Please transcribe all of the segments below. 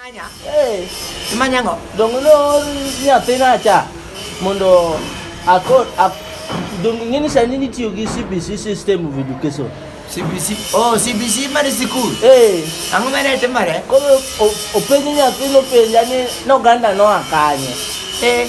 Manya. Eh. Manya ngo. Dongo no nyathina cha mondo akod ak dongo ngini sani nitiyo gi CBC system of education. CBC. Oh, CBC mar sikul. Eh. Ang'o mane timore? Koro openjo nyathino penja ni noganda noa kanye. Eh.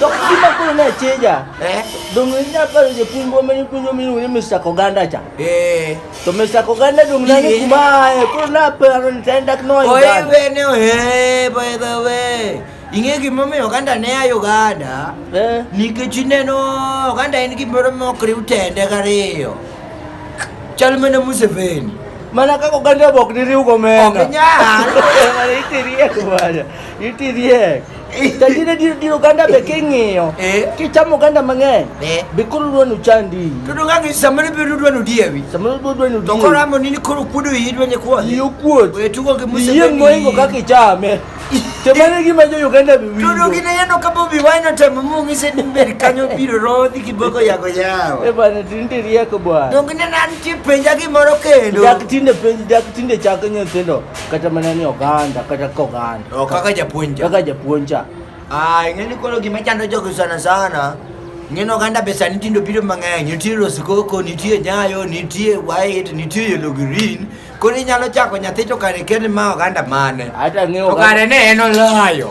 To kima koro ne chija. Eh? Dong nya paro je pungo meni pungo meni uri Mr. Koganda cha. Eh. To Mr. Koganda dong na ni kuma eh koro na paro ni tenda kno. Oye bene oye by the way. Ing'e gimomiyo oganda ne ayo oganda eh. nikech ineno oganda en gimoro mok riw tende gariyo chal mana Museveni mana kaka oganda bok diriw gomena ok nyal itiriek bwana itiriek Tajire diro diro ganda be king'iyo. Eh. Kichamo ganda mang'eny. Eh. Be koro dwanu chandi. To donga ngi samoro be dwanu diewi. Samoro be dwanu diewi. To koro amo nini koro kuodo yi dwanye kuodo. Yi kuodo. We tugo gi musa. Yi ngoingo kaka ichame. To mane gima jo Uganda bi winjo. To dongi ne yano kapo bi wine to mamu ngise ni ber kanyo biro rodhi kiboko yago yawa. E bana tinde rieko bwana. Dongi ne nan ti penja gimoro kendo. Dak tinde penj dak tinde chako nyithindo. kata mana ni oganda kata ka oganda oh, kaka japuonja kaka japuonja ah ing'eni koro gima chando jogo sana sana ng'eno oganda be sani tindo biro mang'eny nitie roskoko nitie nyayo nitie white nitie yellow green koro inyalo chako nyathi to kare kende ma oganda mane to kare ne en olayo